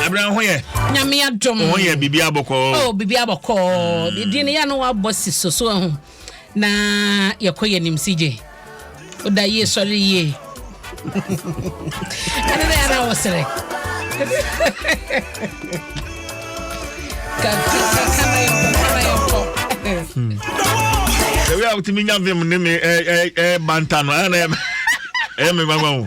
abira ho yɛ. nyame adom. ho yɛ bibi abɔkɔɔ. o oh, bibi abɔkɔɔ hmm. din yɛ no wabɔ si soso ho na yɛkɔ yɛ nim si gye o da yie sɔre yie ɛne na yɛn a wɔsrɛ. Ewe a wotumi nya vim ne me ɛɛ ɛɛ banta no ɛna ɛyɛ me mama o.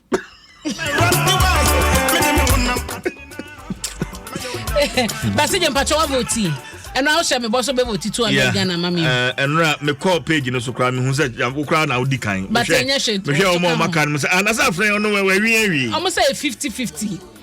basi gye mpatsɛ wa voti ɛnu awo sɛ mebɔ so bɛ voti two hundred ghana ma mi. ɛnura mi kɔ page no so kura mi hun sɛ yanko kura na odi kan. bàtà ɛnyɛ hyɛ tó so kàn. mi hwɛ ɔmɔ ɔmɔ kan mi sɛ anasa afrɛ ɔno wɛ wɛ wi ɛwi. ɔmɔ sɛ yɛ fifty fifty.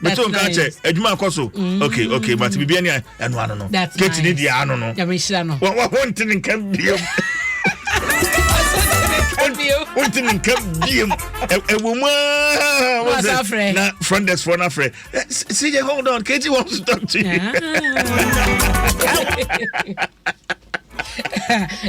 mete wo nka kyɛ adwuma akɔ so mm. ok ok but biribi ani ɛno ano no kate ne deɛ ano no wonte ne nka biam wonte ne nka biam ɛwɔ mu aa na front desk foɔ no afrɛ sɛ yɛ hold on kate wants to talk to you ah.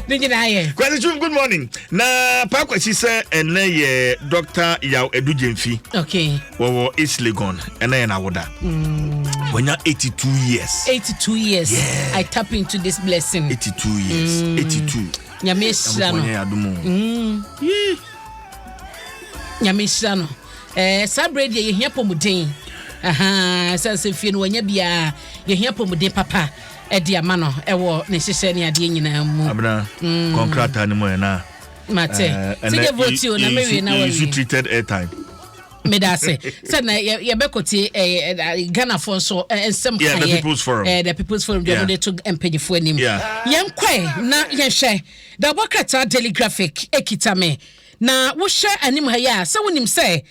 ne nyinaa yɛ. kwasi chum good morning na paa kwasi sɛ ɛnɛ yɛ dɔkta yaw adu gyemfi okay. wɔwɔ east legon ɛnɛ yɛ n'awoda mm. wɔnya 82 years 82 years yeah. i tap into this blessing 82 years mm. 82 nyame ahyira no mm. nyame ahyira no eh, saa berɛ deɛ yɛhia pɔmuden sɛ sɛ fie no wɔanya biaa yɛhia pɔmuden papa ɛde ama no ɛwɔ ne hyehyɛ ne adeɛ nyinaa mu. abena mm. kɔn krataa no mu ɛ na. mate ti de vote o na mewie na wawie. you treated airtime. meda ase sɛ na yɛbɛkɔtie eh, eh, ghanafoɔ nso eh, nsɛm kaeɛ the people's forum the people's forum deɛ wɔde to mpanyifoɔ anim yɛnkɔe na yɛnhwɛ da wɔbɔ krataa daily graphic ɛkita me Na wohwɛ anim ha yi a, sɛ wonim sɛ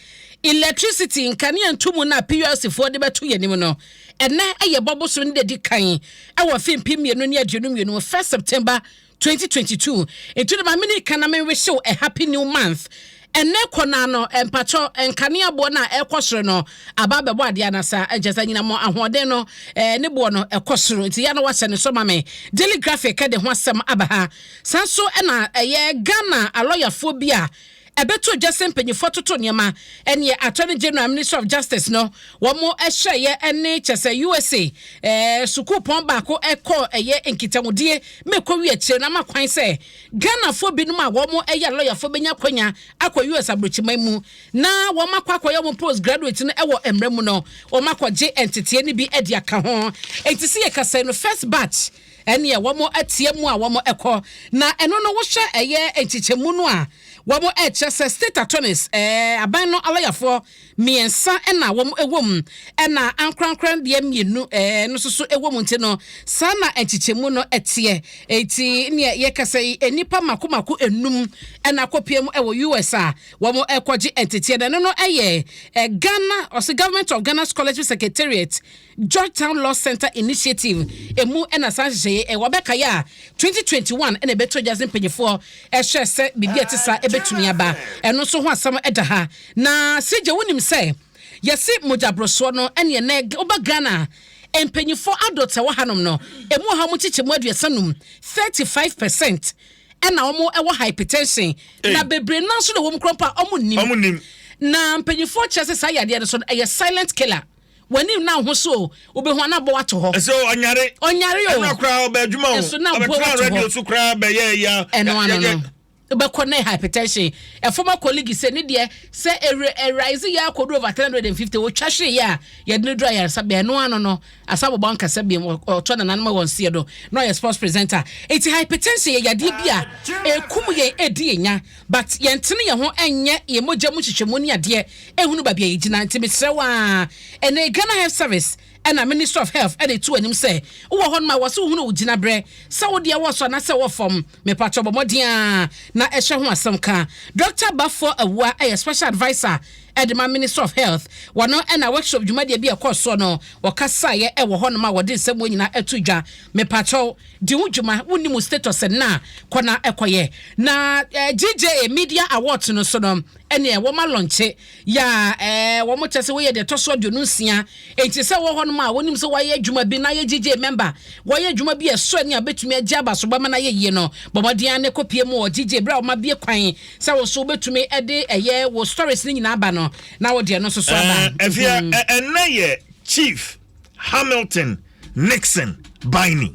electricity nkanea ntumu no a PULC foɔ de bɛto yɛn anim no, ɛnɛ yɛ bɔ bosome no da di kan wɔ afe mpem mmienu ne aduonu mmienu mu, first September twenty twenty two. Nti no ma mene ka na menwehye wo a happy new month. Ɛnɛ kɔ naa no mpakyɛ nkanea boɔ no a ɛkɔ soro no aba abɛbɔ adeɛ anasa nkyɛ sɛ nyinam ahoɔden no ne boɔ no ɛkɔ soro nti ya na wahyɛ ne so ma me. Daily Graphic de ho asɛm aba ha Saa nso na ɛyɛ Ghana alɔyafoɔ bi a ɛbɛtoo dwa sɛ mpanyinfoɔ atoto nneɛma ɛneɛ Attorney General Ministry of Justice no wɔn hyɛeɛ ɛne kyɛ sɛ USA ɛɛ sukuupɔn baako ɛkɔ ɛyɛ nkitahodie ma ɛkɔwi akyire na ama kwan sɛ Ghanafoɔ binom a wɔn ɛyɛ alɔyafoɔ bɛnya akwanya akɔ US aburokyiman mu na wɔn akɔ akɔyɛ wɔn postgraduate no ɛwɔ mmerɛ mu no wɔn akɔgye nteteɛ no bi ɛde aka ho enti sɛ yɛkasɛ no first batch ɛneɛ wɔn ateɛ mu a wɔn ɛkɔ na ɛno no wohwɛ ɛyɛ nkyekyɛmu no a wɔn ɛkyerɛ sɛ state attorneys ɛɛ aban no alɔyafoɔ mmiɛnsa ɛna wɔn ɛwɔ mu ɛna ankorankora deɛ mmienu ɛɛ no nso so ɛwɔ mu nti no saa na nkyekyɛmu no ɛteɛ eti neɛ yɛkasa yi nnipa mako mako enum ɛna akɔpie mu ɛwɔ US a wɔn ɛkɔgye nteteɛ na ɛno no ɛyɛ ɛɛ Ghana ɔsɛ government of Ghana scholarship secretariat Georgetown Law Center Initiative mu na saa nhyehyɛeɛ yi wɔ. Bɛkaeɛ a, 2021 na ɛbɛtoo gya dze mpanyifoɔ hyɛɛ sɛ biribi a ɛte saa bɛtumi aba. Ɛno nso ho asɛm da ha. Na Sirgye, wonim sɛ yɛse mogyaborosoɔ no ne ɛnnɛ woba Ghana a, mpanyifoɔ adults a ɛwɔ hanom no, ɛmu wɔ ha wɔn nkyekyɛmu aduasa num, 35 percent, ɛna wɔn wɔ hypertension. Na bebree no ara nso na wɔn kura mpo a wɔnnim. Na mpanyifoɔ kyerɛ sɛ saa yadeɛ no nso no ɛyɛ silent killer. W'anim na wo ho so o. Wobɛhu a na abɔ woato hɔ. Ɛsɛ o, ɔnyare. Ɔnyare o. Ɛna koraa ɔbɛ adwuma o. Ɛso na abɔ woato hɔ. Ɔbɛtena radio so koraa bɛyɛ ɛyi a. Ɛno ano no. Wobɛkɔ na hypertension. A former colleague sɛ ne deɛ sɛ ɛrise yɛ akɔdu over 350 wɔtwa hwee yɛ a yɛde no duru ayaresabea. Ɛno ano no asa bɔbɔ ankasa biam ɔtɔ nananom a wɔn seɛ do na ɔyɛ sports presenter. Eti hypertension yɛ yadeɛ bi a ɛkum yɛn ɛdi yɛn nya but yɛntene yɛn ho ɛnyɛ yɛn mogya mu hyehyɛmu ne adeɛ. ɛhunu baabi a yɛgyina nti mesrɛ wo aa ɛnɛ Ghana Health Service ɛna Ministry of Health ɛna ɛtu w'anim sɛ wowɔ hɔ nom a wɔse wohunu wo gyina berɛ sɛ wo deɛ wɔ soro anaa sɛ ɛwɔ fam mepakyɛ bɔ mmɔden aa na ɛhyɛ ho asɛm ka Dɔkta Baffour Awua ɛyɛ Special Adviser ɛde ma Ministry of Health wɔno ɛna workshop dwumadie bi a ɛkɔɔ soɔ no wɔkasaeɛ ɛwɔ hɔ nom a wɔde nsɛm wɔ nyinaa ɛto dwa mepakyɛ di wo dwuma wonni mu status ɛnna kɔ na ɛkɔyɛ na GJA Media Awards no so no Ɛneɛ wɔn alɔnkye yaa ɛɛ wɔn kyɛ sɛ wɔyɛ deɛ ɛtɔ so aduonu nsia enti sɛ wɔ hɔnom a wɔnim sɛ wɔayɛ adwuma bi na ayɛ gyegye mɛmba wɔayɛ adwuma bi a ɛsɔ ani a bɛtumi agye aba so bɛma no ayɛ yie no bɔ mmɔden ara ne kɔpie mu wɔ gyegye berɛ a wɔn abue kwan sɛ wo nso wobɛtumi de ɛyɛ wo stories no nyinaa aba no na wode ɛno nso so aba. Ɛɛ ɛfia ɛnɛ yɛ chief. hamilton nixon baini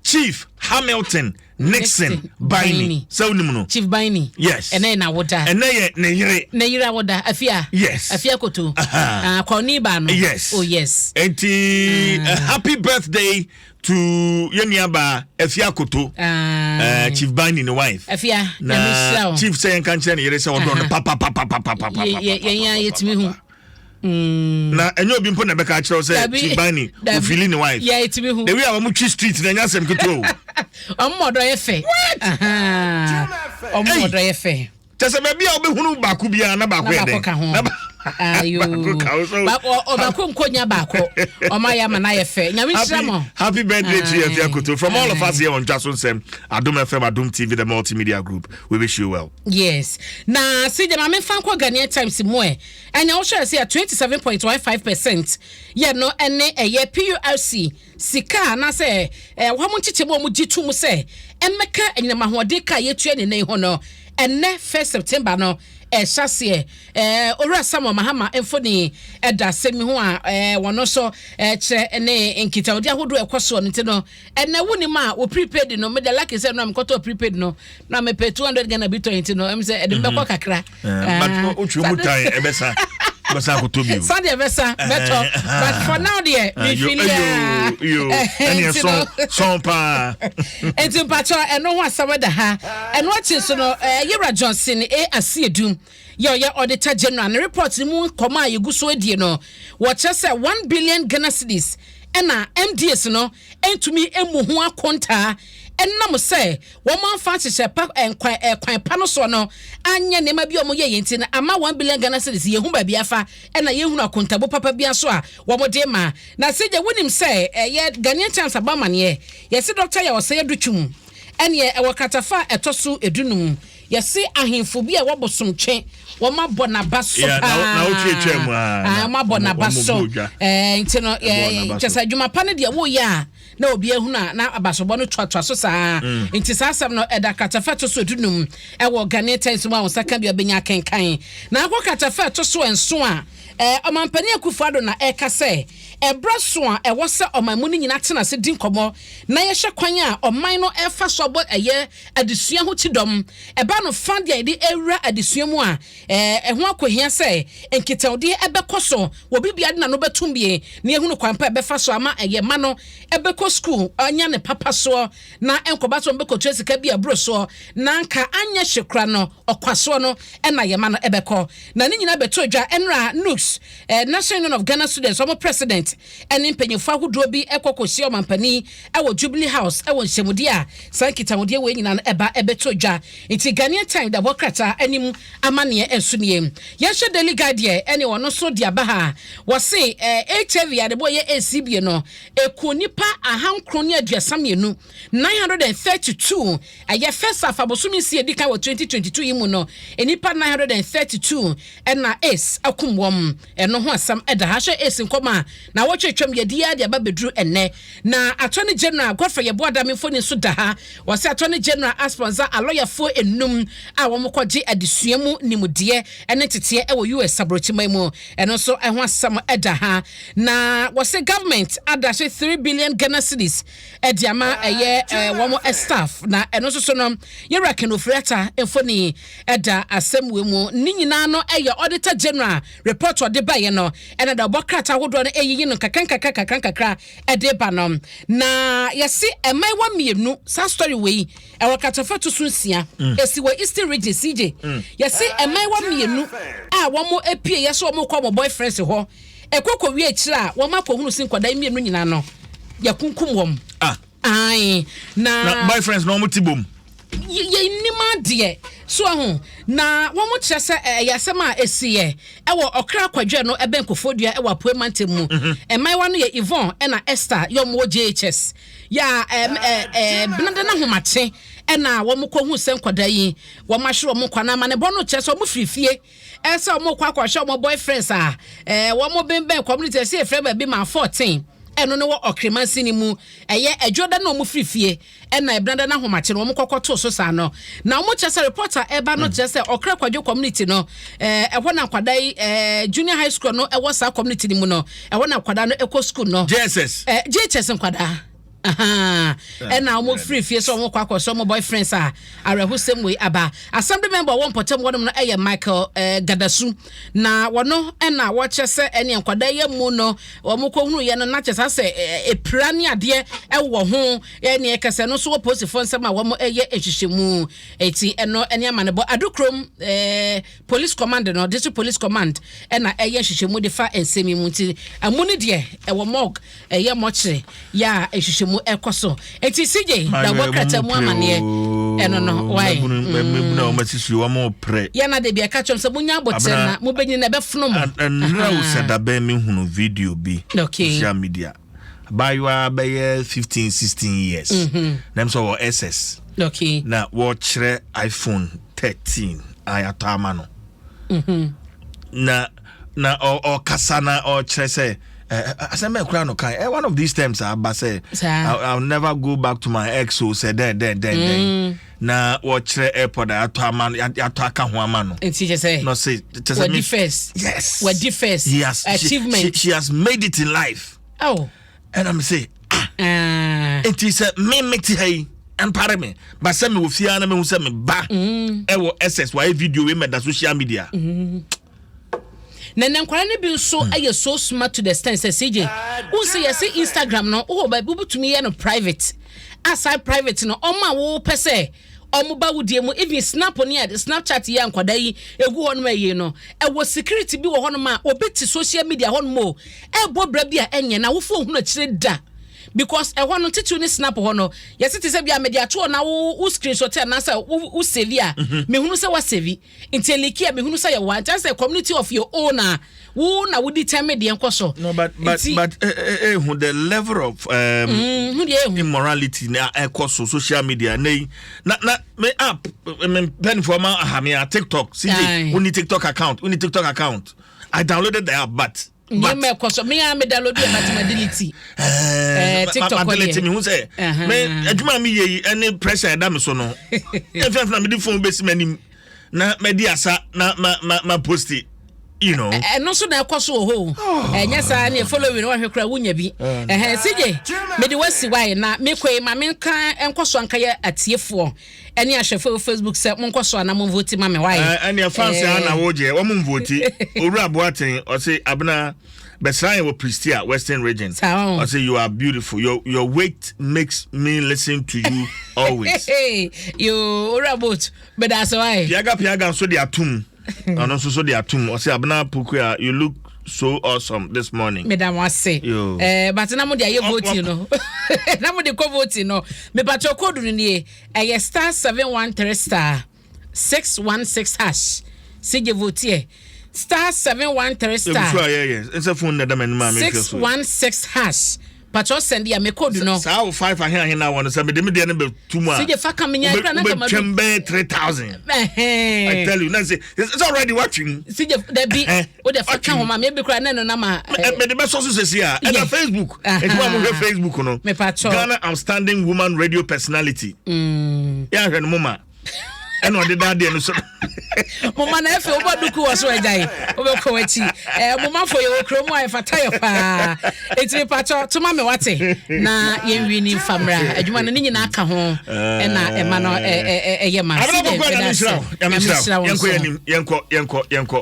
chief hamilton nixon baini sɛ wonim no chief baini yes ɛnɛ yɛ n'awoda ɛnɛ yɛ ne yere ne yere awoda afia yes afia koto akɔni ah, baa no yes oh yes eti mm. uh, happy birthday to yɛn nuaba afia koto uh, chief baini ne wife afia na chief sɛ yɛn kankyerɛ ne yere sɛ ɔdɔ no papapapapapapa yɛn yɛn yɛtumi hu. Mm. na ɛnyɛ obi mpo na ɛbɛka akyerɛw sɛ tibani ofili ne wife the way a wɔn twi street na ɛnyɛ asɛm ketewa o. wɔn mɔdɔ yɛ fɛ. wɔn mɔdɔ yɛ fɛ. kyɛ sɛ baabi a wobɛhunu baako biara na baako yɛ dɛ ɔbaako nkonya baako ɔma yɛ ama no ayɛ fɛ nyame nhyira mo happy birthday to yɛfia koto from all of us here on dwa so nsɛm adom fm adom tv the multimedia group we wish you well yes na sɛ gyama memfa nkɔ ghanea times mu ɛ Ɛnea wɔhyɛɛ ase a twenty seven point one five percent yɛ no ne ɛyɛ PURC sika anaasɛ wɔn nkyekyɛm a wɔgye tom sɛ ɛmmɛka anyinam ahoɔden ka a yɛtua ne nnɛ yi ho no. Ɛnnɛ first September no, ɛhyɛ aseɛ. Ɛɛ Owura Samuel Mahama mfoni da asɛm yi ho a wɔn nso kyerɛ ne nkitahodie ahodoɔ a ɛkɔ soɔ no nti no. Ɛnɛ wonim a wo prepaid no meda lucky sɛ no a mekɔtɔ prepaid no na mepɛ 200 Ghana bi tɔn nti no ɛm sɛ ɛde mbɛkɔ mhm. kakra. Eh, but ah. wotwe mu tan ɛbɛsa. bɛsa akɔtɔ bio sa deɛ bɛsa bɛtɔ but for now deɛ mefili sɔn paa nti mpakyɛ ɛno ho asɛm da ha ɛno akyi so no yɛwura johnson a aseɛdum Yɛ ɔyɛ Auditor General ne report no mu nkɔmɔ a yɛgu so die no, wɔkyerɛ sɛ one billion Ghana cedis na MDAs no ntumi mmu ho akontaa ɛnam sɛ wɔn amfa nhyehyɛ pa nkwan ɛkwan pa no soɔ no anyɛ nneɛma bi a wɔn yɛyɛ nti no ama one billion Ghana cedis yɛhu baabi afa ɛna yɛhunu akontabu papa bi nso a wɔn de ma na sɛ gya wonim sɛ ɛyɛ Ghanaian Times abɔ amaneɛ yɛsi Dr. Yaw Ɔsɛe Adutwum ɛneɛ ɛwɔ kratafa ɛtɔ so edunum Yɛse ahenfo bi a ɛwɔ bosomtwe wɔn abɔ n'aba so Yeah, na- paa na wotwe twaa mu, ah, Ah, na wɔn abɔ wɔn- n'aba wɔn so bɔɔ dwa. Eh, nti no Ɛbɔɔ yɛ- n'aba kyɛ so. sɛ adwuma pa no deɛ woyɛ a na obi ahunu a na abasobɔ no toatoa so saa Mm. nti saa asɛm no ɛda kratafa to so dunum ɛwɔ Ghanaian Times mu a wo nsa ka bi a bɛnya akenkan na akɔ kratafa to so nso a eh, ɔmampanin akufo ado na ɛka sɛ ɛberɛ so a ɛwɔ sɛ ɔman mu no nyinaa tena ase di nkɔmmɔ na yɛhwɛ kwan a ɔman no ɛfa so abɔ ɛyɛ Adesua ho kyidɔm. Ɛba no fã de a yɛde awura adesua mu a, ɛho akohia sɛ nkitahodi bɛkɔ so wɔ bere biara de n'ano bɛtom bie na yɛahunu kwan pa a yɛbɛfa so ama yɛn mma no bɛkɔ sukuu anya ne papa soɔ na ɛnkɔba sɛ wɔbɛkɔtua sika bi a ɛboro soɔ na anka anyɛ hye kora no ɔkwa soɔ no na yɛn mma no bɛkɔ. Na ne nyinaa bɛtoo dwa ɛnora NUGS, National Union of Ghana Students, wɔn president, ɛne mpanyimfo ahodoɔ bi kɔ kɔhyia ɔmampanin wɔ Jubilee House wɔ nhyɛmudeɛ a saa nkitahodie wei nyinaa no ɛba bɛtoo dwa. Nti Ghanaian Time da hɔ krataa anim amanneɛ nso nie. Yɛnhwɛ Daily Guide deɛ ɛne wɔn nso de aba ha a, wɔse HIV yareboɔ yɛ ACBA no, ɛkuu nnipa ahankron ne aduasa mmienu. Nine hundred and thirty two ɛyɛ first half a bosome nsia edi kan wɔ twenty twenty two yi mu no nnipa nine hundred and thirty two ɛna ace akum wɔn ɛno ho asɛm ɛda ha hwɛ ace nkɔm a na wɔtwe twam yɛ di yɛ de aba beduru ɛnɛ na attorney general godfrey yɛ boa dame mfoni nso da ha wɔsɛ attorney general asponsa alɔyafoɔ enum a wɔn kɔ gye adesua mu nimudeɛ ɛne teteɛ ɛwɔ us aburokyiman mu ɛno nso ɛho asɛm ɛda ha na wɔsɛ government ada so three billion ghana cities ɛde ama ɛyɛ ɛɛ wɔn staff na ɛno nso so no yɛwura ken ofiri ata mfoni ɛda asɛm wɔ mu ne nyinaa no ɛyɛ auditor general report ɔde ba yɛ no ɛna da ɔbɔ krataa ahodoɔ no ɛyiyi no kakra nkakra kakra nkakra ɛde ba no na yɛsi ɛma ɛwɔ mmienu saa story wɔ yi ɛwɔ katafa to so nsia mm. esi wɔ eastern region cj mm. yɛsi ɛma ɛwɔ mmienu a wɔn apue yɛ so wɔn kɔ wɔn boyfriends hɔ. Ɛkɔ kɔ wie akyire a wɔn akɔ hunu se nkwadaa yi mmienu nyinaa no yɛ kunkum wɔn. Ah. Ae. Na. Na boyfriends na wɔn ti bom. yɛnim adeɛ so ho na wɔn kyerɛ sɛ ɛyɛ asɛm a ɛsiiɛ ɛwɔ ɔkra kwadwɛ no ɛbɛn kofodua ɛwɔ apoe mantam mu mmaayewa no yɛ Yvonne ɛna Esther yɛ wɔn wɔ JHS yɛ a benada no ahomakye ɛna wɔn kɔ hu sɛ nkwadaa yi wɔn ahwere wɔn nkwa na amanebɔ no kyerɛ sɛ wɔn firi fie ɛsɛ wɔn kɔ akɔhwɛ wɔn boyfriends a ɛɛ wɔn bɛnbɛn community ɛsɛ efrɛ baabi ma fourteen ɛno ne wɔ ɔkremansi ne mu ɛyɛ adwo da na wɔn firi fie ɛna ɛbnada no ahomakye no wɔn kɔkɔ to so saa no na wɔn kyerɛ sɛ report a ɛba no hmm. kyerɛ sɛ ɔkra kwadwo community no ɛɛ ɛhɔ na nkwadaa yi ɛɛ junior high school no ɛwɔ saa community no mu no ɛhɔ na nkwadaa no ɛkɔ school no jss ɛɛ jss nkwadaa. Ahaa, ɛna wɔn firi fie sɛ wɔn kɔ akɔsɔ wɔn boyfriends a awerɛhosɛm wei aba. Assembly member a ɔwɔ mpɔtam hɔ nom no yɛ Michael eh, Gadasu. Na wɔno ɛna wɔkyerɛ sɛ ɛne nkwadaa yɛ mu no wɔn kɔ hunu yɛ no na kyɛ saa sɛ epira ne adeɛ ɛwɔ ho ɛne ɛkɛsɛ no nso wɔ polisifoɔ nsɛm a wɔn ɛyɛ nhyehyɛmu. Eti ɛno ɛne amanebɔ adokrom ɛɛ. Eh, Police command no, District Police Command na ɛyɛ nhwehwɛmu de fa nsɛm yi mu nti ɛmu no deɛ ɛwɔ morgue, ɛyɛ mɔkyere yɛ a nhwehwɛmu ɛkɔ so. Nti CJ na ɛbɔ krataa mu amaneɛ ɛno no wae. Mm. Yɛn na de bi ɛka kyɛm sɛ munya abotire na mobɛnyini na ɛbɛfono mo. Ɛnna o sɛ dabɛn mi hunu video bi. Okay. Social media. abaayewa bɛyɛ fifteen sixteen years mm-hmm. nam sɛ ɔwɔ ss okay. na wɔkyerɛ iphone thirteen a yɛatɔ ama no mm-hmm. na na ɔkasa na ɔkyerɛ sɛ asɛm bɛn kora no kan eh, one of these terms aba ah, sɛ i'll never go back to my ex o sɛ dɛn dɛn dɛn dɛn mm. na wɔkyerɛ airport a yɛatɔ ama no yɛatɔ aka ho ama no. nti kyɛ sɛ no se kyɛ sɛ wadi first yes wadi first he has achievement she, she, she has made it in life. Oh. And I'm say ah uh. nti sɛ me me ti ha yi mpare me ba sɛ me wɔ fie ara na mehu sɛ me ba ɛwɔ mm. ss wɔayɛ video wei mɛda social media. Mm. Na na nkwadaa no bi nso hmm. yɛ so smart to the extent sɛ CJ wo sɛ yɛsɛ Instagram no wowɔ baabi wobɛtumi yɛ no private aside private no ɔmo a wopɛ sɛ ɔmo ba wudie mu even snap ne a snapchat yɛ nkwadaa yi egu hɔ nom ɛyɛ no ɛwɔ security bi wɔ hɔ nom a obi te social media hɔ nom o ɛbɔ bra bi a ɛnyɛ na wofo ohun akyire da because ɛhɔ no titiriw ne snap hɔ no yɛsi te sɛ bi a mɛde ato hɔ na wo wo screenshot anaasɛ wo wo save a mehunu mhm. sɛ wa save. Nti eliki a mehunu sɛ yɛwɔ a nkyɛ sɛ community of your own a wo na wodi tɛme deɛ nkɔ so. No but but Nti, but eh, eh, eh, hu the level of um, mm, hu deɛ ehu. immorality na ɛkɔ so social media na yi na na me app me mpanyinfoɔ ma aha me a TikTok CJ Aye. wonni TikTok account wonni TikTok account I downloaded the app but nneɛma ɛkɔ so me a me download yɛ but ma delete ɛɛ tiktok ma delete mi hu sɛ me adwuma mi yɛ yi ɛne pressure ɛda mi so no ɛfɛ fɛ na mi di phone besi mi anim na ma di asa na ma ma ma posti you know. ɛno nso na ɛkɔ so wɔ hɔ o ɛnyɛ saa ne following wɔhwɛ kora wonya bi ɛhɛn sigye mede wasi wae na mekɔe ma menka nkɔ so anka yɛ atiefoɔ Ɛne ahwɛfo ɛwɔ Facebook sɛ monkɔ so ana monvote ma me wai. Ɛɛ ɛneɛ fans aa na wo gyeɛ wɔn nvote Owura Boateng ɔse Abena bɛsra yɛn wɔ Prestea Western Region ɔse you are beautiful your your weight makes me listen to you always. Yoo Owura Boat bɛdaase wai. Piaga Piaga nso de atom. ɔno nso so de atum ɔsɛ abena pokua you look so awesome this morning. meda mo ase ɛɛ eh, bàtà náà mo de ayé voting no náà mo de kɔ voting no mipatwa kóòdù no nie ɛyɛ star seven one three star six one six hash si gye votiɛ star seven one three star. ebi so ayɛ yɛ nsɛ fone na ɛda mɛ anim a mi hwɛ so. six one six hash. Patsɔ sɛn bia me code no. Saa wo five ahe ahe na wɔ no sɛ mede me deɛ no bɛ tu mu a. Sɛ fa ka me nya kra na ka ma. Wobɛtwam bɛyɛ three thousand. Ɛhɛn. I tell you na sɛ sɛ already watwe mu. Sɛ gye dabi wo de fa ka ho ma me bi kra na no na ma. Mede bɛ sɔ so sɛ si a. Ɛna Facebook. Ɛti wa mo hwɛ Facebook no. Me patsɔ. Ghana outstanding woman radio personality. Mm. Ya hwɛ no mo ma. ɛna ɔde da adeɛ no so moma na afei wobɔ duku wɔ so agyae wobɛkɔ w'akyi eh, momafo yɛwɔ kuro mu a ɛfata yɛ paa ɛtumi patɔ toma me wate na yɛnwi ne mfa mmra adwuma no ne nyinaa ka ho eh. ɛna ɛma no ɛyɛ ma sɛ yɛnkɔ yɛnkɔ yɛnkɔ